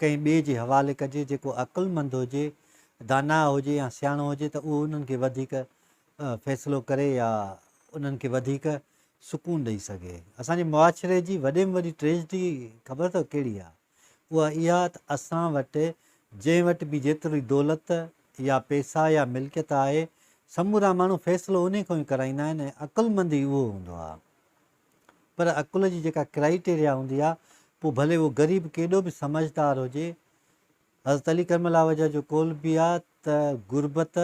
ڪنهن ٻئي جي حوالي ڪجي جيڪو عقلمند هجي، داناء هجي يا سياڻو هجي ته اهو انهن کي وڌيڪ فيصلو ڪري يا انهن کي وڌيڪ سڪون ڏئي سگهي. اسان جي معاشري جي وڏي ۾ وڏي ٽريجڊي خبر اٿو ڪهڙي آ؟ اها اها ته اسان وٽ جنهن وٽ به جيتري دولت يا پيسا يا ملڪيت آهي سمورا ماڻهو فيصلو انهي کان ئي ڪرائيندا آهن ۽ عقلمند ئي اهو هوندو آ. پر عقل جي جيڪا ڪرائيٽيريا هوندي آ پوء ڀلي اهو غريب ڪيڏو به سمجهدار هجي. حضرت علي ڪرم الله وجهه جو قول به آ ته غربت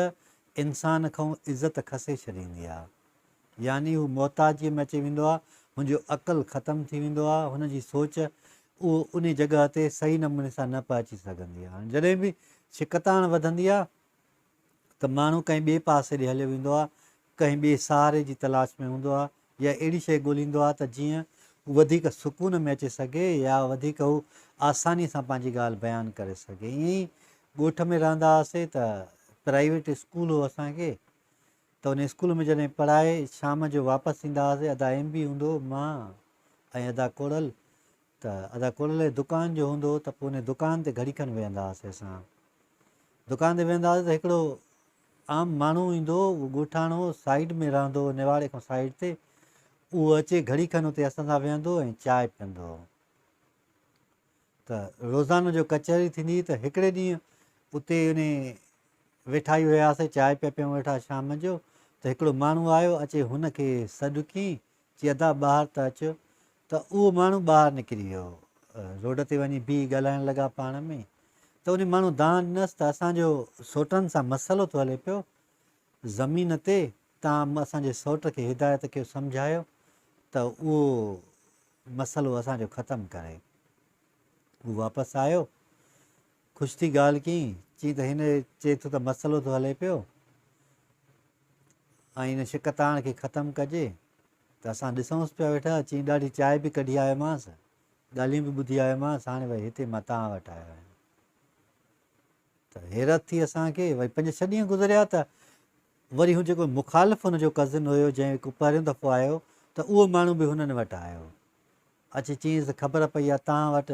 انسان کئون عزت کسي ڇڏيندي آ. يعني هو محتاجيء ۾ اچي ويندو آ، هن جو عقل ختم ٿي ويندو آ، هن جي سوچ اهو انهي جڳهه تي صحيح نموني سان نه پهچي سگهندي آ. هاڻي جڏهن به شڪتاڻ وڌندي آ ته ماڻهو ڪنهن ٻئي پاسي ڏي هليو ويندو آهي، ڪنهن ٻئي سهاري جي تلاش ۾ هوندو آهي يا اهڙي شيء ڳوليندو آهي ته جيئن هو وڌيڪ سڪون ۾ اچي سگهي يا وڌيڪ هو آساني سان پنهنجي ڳالهه بيان ڪري سگهي. ائين ئي ڳوٺ ۾ رهندا هئاسين ته پرائيويٽ اسڪول هو اسان کي ته ان اسڪول ۾ جڏهن پڙهائي شام جو واپس ايندا هئاسين ادا ايم بي هوندو هو مان ۽ ادا ڪوڙل ته ادا ڪلهي دڪان جو هوندو هو ته پوء ان دڪان تي گهڙي کن ويهندا هئاسي اسان. دڪان تي ويهندا هئاسي ته هڪڙو عام ماڻهو ايندو هو، اهو ڳوٺاڻو سائيڊ ۾ رهندو هو نواڙي کان سائيڊ تي، اهو اچي گهڙي کن اتي اسان سان ويهندو ۽ چانهه پيئندو هو. ته روزانو جو ڪچهري ٿيندي هئي ته هڪڙي ڏينهن اتي ان ويٺا ئي هياسي چانهه پيا پيئون ويٺا شام جو ته هڪڙو ماڻهو آيو اچي هن کي سڏ ڪيئين چي ادا ٻاهر ته اچو ته اهو ماڻهو ٻاهر نڪري ويو روڊ تي وڃي بيهي ڳالهائڻ لڳا پاڻ ۾ ته ان ماڻهو دانهن ڏنس ته اسان جو سوٽن سان مسئلو ٿو هلي پيو زمين تي تان اسان جي سوٽ کي هدايت ڪيو سمجهايو ته اهو مسئلو اسان جو ختم ڪري هو واپس آيو خوش ٿي ڳالهه ڪيئين، چيئين ته هن چئي ٿو ته مسئلو ٿو هلي پيو ۽ ان شڪتاڻ کي ختم ڪجي ته اسان ڏسونس پيا ويٺا، چيئين ڏاڍي چاء به ڪڍي آيومانس، ڳالهيون به ٻڌي آيومانس، هاڻي وري هتي مان توهان وٽ آيو آهيان. ته حيرت ٿي اسان کي، وري پنج ڇهه ڏينهن گذريا ته وري هو جيڪو مخالف هن جو ڪزن هيو جنهن هڪ پهريون دفعو آيو ته اهو ماڻهو به هنن وٽ آيو اچي چيس خبر پئي آ تان وٽ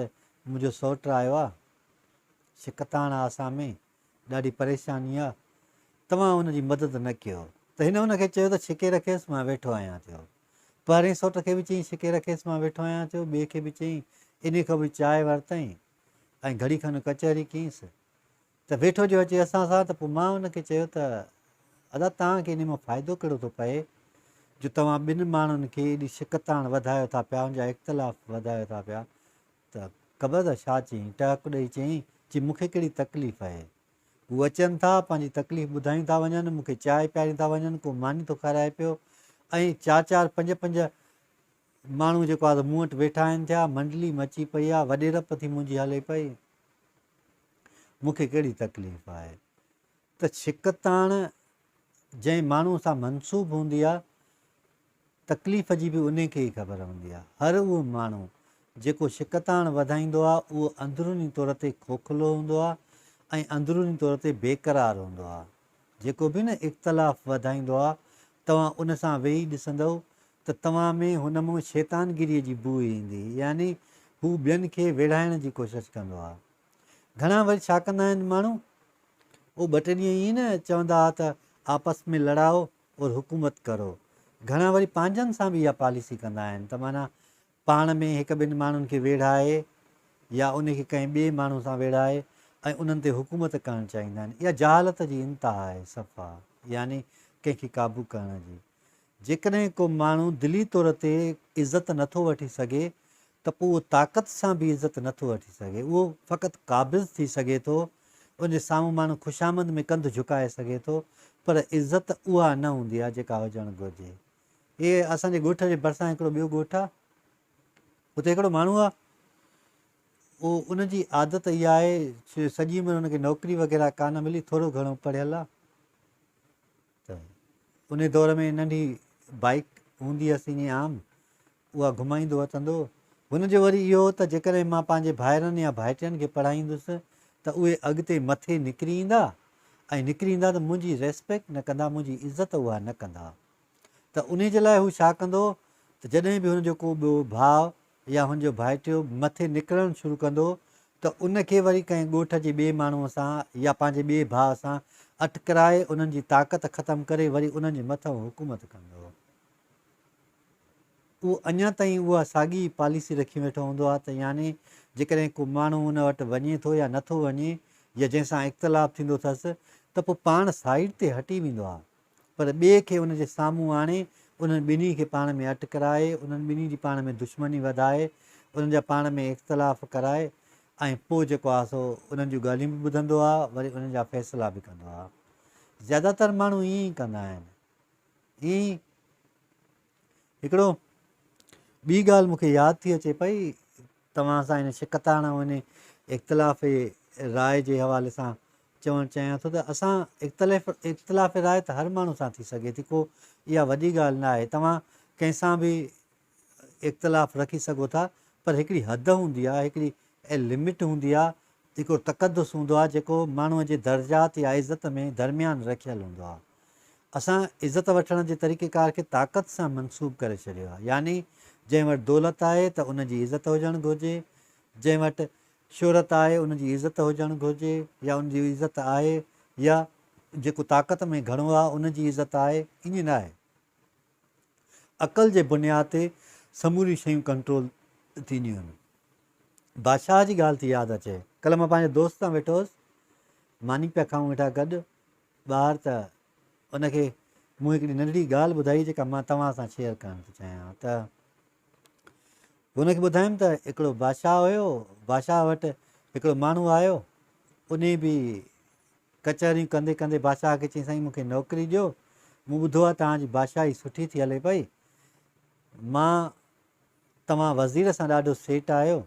منهنجو سوٽ آيو آ شڪتاڻ آسا ۾ ڏاڍي پريشاني آ توهان ان جي مدد نه ڪيو ته هن ان کي چيو ته ڇڪي رکيس مان ويٺو آهيان ٿيو پهرين سوٽ کي به چيائين ڇڪي رکيس مان ويٺو آهيان ٿيو ٻئي کي به چيائين انهي کان به چاء ورتائين ۽ گهڙي کن ڪچهري ڪينس ته ويٺو جو اچي اسان سان، ته پوء مان ان کي چيو ته ادا توهان کي انهي مان فائدو ڪهڙو ٿو پئي جو توهان ٻن ماڻهن کي ايڏي شڪتاڻ وڌايو ٿا پيا ان جا اختلاف وڌايو ٿا پيا ته قبضه شاهه چيائين ٽهڪ ڏئي چيائين چي مون کي ڪهڙي تڪليف اهي هو اچن ٿا پنهنجي تڪليف ٻڌايون ٿا وڃن مون کي چانهه پيارين ٿا وڃن ڪو ماني ٿو کارائي پيو ۽ چار چار پنج پنج ماڻهو جيڪو آهي مون وٽ ويٺا آهن ٿيا منڊلي مچي پئي آهي وڏي رپ ٿي منهنجي هلي پئي مون کي ڪهڙي تڪليف آهي ته ڇڪتاڻ جنهن ماڻهو سان منسوب هوندي آهي تڪليف جي به انهي کي ئي خبر هوندي آهي. هر اهو ماڻهو جيڪو ڇڪتاڻ وڌائيندو آهي اهو اندروني طور تي کوکلو هوندو آهي ۽ اندروني طور تي بيقرار هوندو آهي. جيڪو به نه اختلاف وڌائيندو آهي توهان ان سان ويهي ڏسندؤ ته توهان ۾ هن مان شيطانگيريء جي بوء ايندي، يعني هو ٻين کي ويڙهائڻ جي ڪوشش ڪندو آ. گهڻا وري ڇا ڪندا آهن ماڻهو؟ او ٻه ٽي ڏينهن ائين نه چوندا آ ته آپس ۾ لڙائو اور حڪومت ڪرو. گهڻا وري پنهنجن سان به اها پاليسي ڪندا آهن ته معنيٰ پاڻ ۾ هڪ ٻن ماڻهن کي ويڙهائي يا ان کي ڪنهن ٻئي ماڻهو سان ويڙهائي ۽ انهن تي حڪومت ڪرڻ چاهيندا آهن. اها جهالت جي انتها آهي صفا يعني ڪنهن کي قابو ڪرڻ جي. جيڪڏهن ڪو ماڻهو دلي طور تي عزت نه ٿو وٺي سگهي ته پوء اهو طاقت سان به عزت نه ٿو وٺي سگهي. اهو فقط قابض ٿي سگهي ٿو. ان جي سامهون ماڻهو خوشامد ۾ ڪنڌ جهڪائي سگهي ٿو پر عزت اها نه هوندي آهي جيڪا هجڻ گهرجي. اهي اسان جي ڳوٺ جي ڀرسان هڪڙو ٻيو ڳوٺ آهي. اتي هڪڙو ماڻهو آهي. او ان جي عادت اها آهي جو سڄي عمر هن کي نوڪري وغيره ڪانه ملي ٿورو گهڻو پڙهيل آهي. ته انهي دور ۾ ننڍي بائيڪ هوندي هئس ائين عام، اها گهمائيندو اچندو هو. هن جو وري اهو هو ته جيڪڏهن مان پنهنجي ڀائرن يا ڀائٽين کي پڙهائيندس ته اهي اڳتي مٿي نڪري ايندا ۽ نڪري ايندا ته منهنجي ريسپيڪٽ نه ڪندا، منهنجي عزت اها نه ڪندا. ته انهي جي لاء هو ڇا ڪندو هو ته جڏهن به هن جو ڪو ٻيو ڀاء يا هن جو ڀائٽيو مٿي نڪرڻ شروع ڪندو ته ان کي وري ڪنهن ڳوٺ جي ٻئي ماڻهوء سان يا پنهنجي ٻئي ڀاء سان اٽڪرائي انهن جي طاقت ختم ڪري وري انهن جي مٿئون حڪومت ڪندو. اهو اڃا تائين اها ساڳي پاليسي رکي ويٺو هوندو آهي ته يعني جيڪڏهن ڪو ماڻهو ان وٽ وڃي ٿو يا نٿو وڃي يا جنهن سان اختلاف ٿيندو اٿس ته پوء پاڻ سائيڊ تي هٽي ويندو آهي پر ٻئي کي ان جي سامهون آڻي، انهن ٻنهي کي پاڻ ۾ اٽ ڪرائي، انهن ٻنهي جي پاڻ ۾ دشمني وڌائي، انهن جا پاڻ ۾ اختلاف ڪرائي ۽ پوء جيڪو آهي سو انهن جون ڳالهيون به ٻڌندو آهي، وري انهن جا فيصلا به ڪندو آهي. زياده تر ماڻهو ائين ئي ڪندا آهن. ائين ئي. هڪڙو ٻي ڳالهه مون کي ياد ٿي اچي پئي توهان سان ان شڪتاڻ ۽ ان اختلاف راء جي حوالي سان چوڻ چاهيان ٿو ته اسان اختلاف اختلاف راء ته هر ماڻهو سان ٿي سگهي ٿي ڪو اها وڏي ڳالهه نه آهي توهان ڪنهن سان به اختلاف رکي سگهو ٿا پر هڪڙي حد هوندي آهي هڪڙي لمٽ هوندي آهي هڪڙو تقدس هوندو آهي جيڪو ماڻهوء جي درجات يا عزت ۾ درميان رکيل هوندو آهي اسان عزت وٺڻ جي طريقيڪار کي طاقت سان منسوب ڪري ڇڏيو آهي، يعني جنهن وٽ دولت آهي ته ان جي عزت هجڻ گهرجي، جنهن وٽ شهرت آهي ان جي عزت هجڻ گهرجي يا ان جي عزت آهي يا جيڪو طاقت ۾ گهڻو آهي ان جي عزت آهي، ائين نه آهي. عقل جي بنياد تي سموريون شيون ڪنٽرول ٿينديون آهن. بادشاهه جي ڳالهه ٿي ياد اچي. ڪلهه مان پنهنجي دوست سان ويٺو هوس، ماني پيا کائون ويٺا گڏ، ٻار ته ان کي مون هڪڙي ننڍڙي ڳالهه ٻڌائي جيڪا مان توهان سان شيئر ڪرڻ ٿو چاهيان ته هن کي ٻڌايم ته هڪڙو بادشاهه هيو بادشاهه وٽ هڪڙو ماڻهو آيو ان به ڪچهريون ڪندي ڪندي بادشاهه کي چيائين سائين مونکي نوڪري ڏيو مون ٻڌو آهي توهان جي بادشاهي سٺي ٿي هلي پئي مان توهان وزير سان ڏاڍو سيٽ آهيو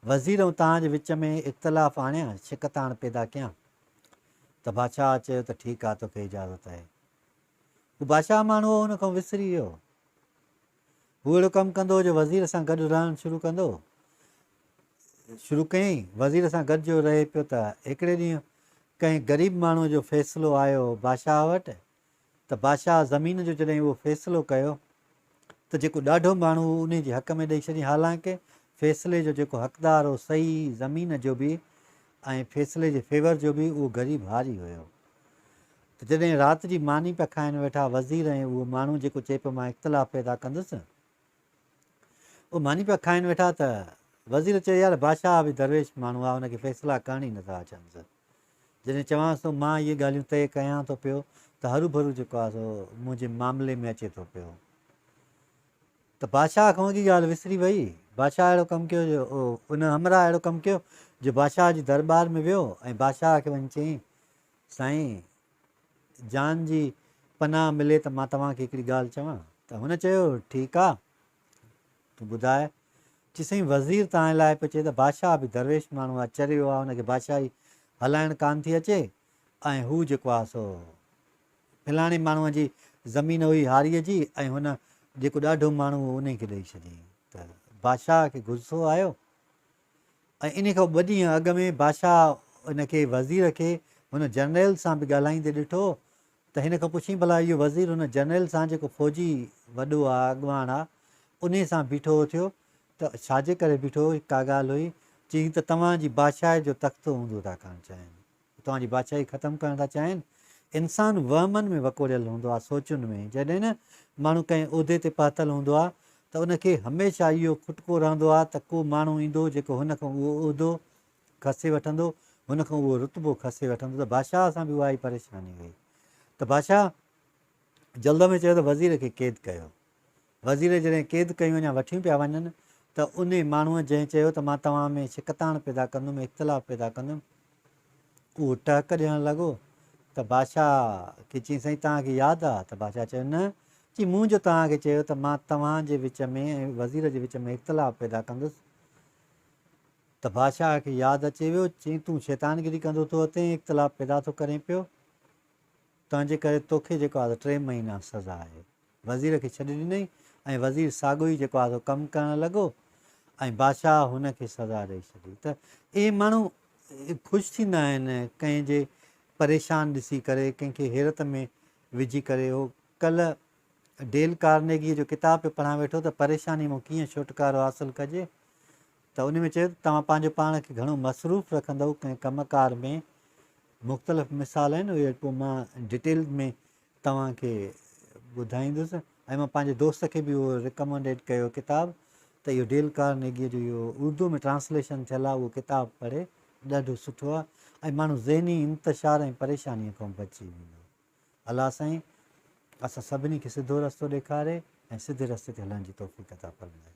وزير ۽ توهان جي وچ ۾ اختلاف آڻيان شڪتاڻ پيدا ڪيان ته بادشاهه چيو ته ٺيڪ آ توکي اجازت اهي. هو بادشاهه ماڻهو هو ان کان وسري ويو. هو اهڙو ڪم ڪندو جو وزير سان گڏ رهڻ شروع ڪندو شروع ڪيائين وزير سان گڏ جو رهي پيو ته هڪڙي ڏينهن ڪنهن غريب ماڻهو جو فيصلو آيو بادشاهه وٽ ته بادشاهه زمين جو جڏهن اهو فيصلو ڪيو ته جيڪو ڏاڍو ماڻهو هو انهي جي حق ۾ ڏئي ڇڏيائين حالانڪه فيصلي جو جيڪو حقدار هو سهي زمين جو به ۽ فيصلي جي فيور جو به اهو غريب هاري هيو ته جڏهن رات جي ماني پيا کائن ويٺا وزير ۽ اهو ماڻهو جيڪو چئي پيو مان اختلاف پيدا ڪندس اهو ماني پيا کائن ويٺا ته وزير چيو يار بادشاهه به درويش ماڻهو آهي ان کي فيصلا ڪرڻ ئي نٿا اچنس جڏهن چوانس ٿو مان اهي ڳالهيون طئي ڪيان ٿو پيو ته هروڀرو جيڪو آهي سو منهنجي معاملي ۾ اچي ٿو پيو ته بادشاهه کان اڳي ڳالهه وسري وئي. بادشاهه اهڙو ڪم ڪيو جو ان همراهه اهڙو ڪم ڪيو جو بادشاهه جي درٻار ۾ ويو ۽ بادشاهه کي وڃي چيائين سائين جان جي پناهه ملي ته مان توهان کي هڪڙي ڳالهه چوان ته هن چيو ٺيڪ آهي تون ٻڌاء. چي سائين وزير تانء لاء پيو چئي ته بادشاهه به درويش ماڻهو آ، چريو آ، ان کي بادشاهي هلائڻ ڪانه ٿي اچي ۽ هو جيڪو آ سو فلاڻي ماڻهوء جي زمين هئي هاريء جي ۽ هن جيڪو ڏاڍو ماڻهو هو انهي کي ڏئي ڇڏيائين ته بادشاهه کي غصو آيو ۽ انهي کان ٻه ڏينهن اڳ ۾ بادشاهه ان کي وزير کي هن جنريل سان به ڳالهائيندي ڏٺو ته هن کان پڇين ڀلا اهو وزير هن جرنيل سان جيڪو فوجي وڏو آ اڳواڻ آ انهي سان بيٺو اٿيو ته ڇاجي ڪري بيٺو هو ڪا ڳالهه هئي چي هي ته توهان جي بادشاهي جو تخت اوندو ٿا ڪرڻ چاهين توهان جي بادشاهي ختم ڪرڻ ٿا چاهين انسان وهمن ۾ وڪوڙيل هوندو آ سوچن ۾ جڏهن نه ماڻهو ڪنهن عهدي تي پهتل هوندو آ ته ان کي هميشه اهو کٽڪو رهندو آ ته ڪو ماڻهو ايندو جيڪو هن کان اهو عهدو کسي وٺندو، هن کان اهو رتبو کسي وٺندو ته بادشاهه سان به اها ئي پريشاني هئي ته بادشاهه جلد ۾ چيو ته وزير کي قيد ڪيو. وزير جڏهن قيد ڪيون يا وٺيون پيا وڃن ته انهي ماڻهوء جنهن چيو ته مان توهان ۾ شڪتاڻ پيدا ڪندم، اختلاف پيدا ڪندم، اهو ٽهڪ ڏيڻ لڳو ته بادشاهه کي چيائين سائين توهان کي ياد آ؟ ته بادشاهه چيو نه، چي مون جو توهان کي چيو ته مان توهان جي وچ ۾ ۽ وزير جي وچ ۾ اختلاف پيدا ڪندس، ته بادشاهه کي ياد اچي ويو، چيائين، تون شيطانگري ڪندو ٿو هتين ۽ اختلاف پيدا ٿو ڪرين پيو، تنهنجي ڪري توکي جيڪو آهي سو ٽي مهينا سزا آهي. وزير کي ڇڏي ڏنائين ۽ وزير ساڳيو ئي جيڪو آهي سو ڪم ڪرڻ لڳو ۽ بادشاهه هن کي سزا ڏئي ڇڏي. ته اهي ماڻهو خوش ٿيندا آهن ڪنهن جي پريشان ڏسي ڪري، ڪنهن کي حيرت ۾ وجهي ڪري. هو ڪلهه ڊيل ڪارنيگيء جو ڪتاب پيو پڙهان ويٺو ته پريشانيء مان ڪيئن ڇوٽڪارو حاصل ڪجي. ته ان ۾ چيو ته توهان پنهنجو پاڻ کي گهڻو مصروف رکندؤ ڪنهن ڪم ڪار ۾، مختلف مثال آهن اهي پوء مان ڊيٽيل ۾ توهان کي ٻڌائيندس ۽ مان پنهنجي دوست کي به اهو رڪمنڊيڊ ڪيو ڪتاب ته اهو ڊيل ڪارنيگيء جو اهو اردو ۾ ٽرانسليشن ٿيل آهي اهو ڪتاب پڙهي ڏاڍو سٺو آهي ۽ ماڻهو ذهني انتشار ۽ پريشانيء کان بچي ويندو. الله سائين اسان سڀني کي سڌو رستو ڏيکاري ۽ سڌي رستي تي هلڻ جي توفيق عطا فرمائي.